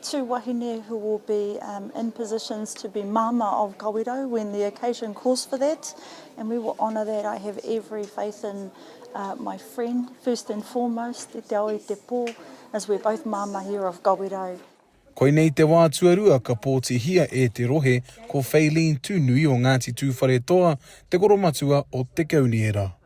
Two wahine who will be in positions to be Mama of Kawirau when the occasion calls for that and we will honour that, I have every faith in my friend, first and foremost, i te ao i te pō, as we're both Mama here of Kawirau. Koinei te wā tuarua ka pōtihia e te rohe ko Feileen Tūnui o Ngāti Tūwharetoa te koromatua o Te Kauniera.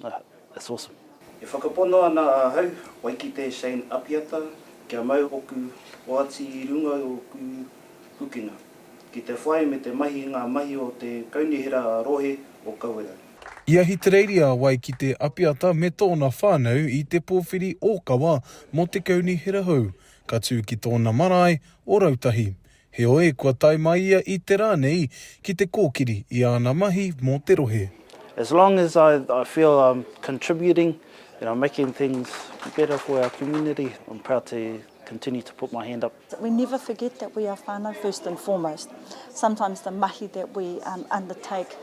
That's awesome. E whakapono ana ahau, Waikite Shane Apiata, kia mau oku oati i runga i oku pukenga, ki te whai me te mahi ngā mahi o te Kaunihera Rohe o Kawerau. I Ahitereiria a Waikite Apiata me tōna whānau i te pōwhiri ōkawa mō te Kaunihera hou, ka tū ki tōna marae o Rautahi. Heoi, kua tae mai ia i te rā nei ki te kōkiri i āna mahi mō te rohe. As long as I I feel I'm contributing and I'm making things better for our community, I'm proud to continue to put my hand up. We never forget that we are whānau first and foremost. Sometimes the mahi that we undertake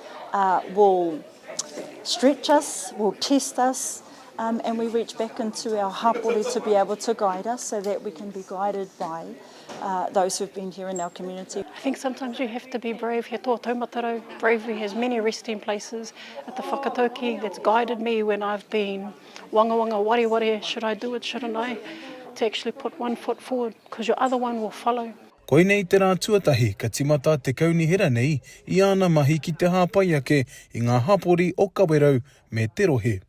will stretch us, will test us, and we reach back into our hapori to be able to guide us so that we can be guided by. Uh, those who've been here in our community. I think sometimes you have to be brave. He tō taumatarau. Bravery has many resting places. At the whakatauki that's guided me when I've been wanga wanga wari wari, should I do it, shouldn't I? To actually put one foot forward because your other one will follow. Koinei te rā tuatahi ka timata te kaunihera nei i āna mahi ki te hāpai ake i ngā hapori o Kawerau me te rohe.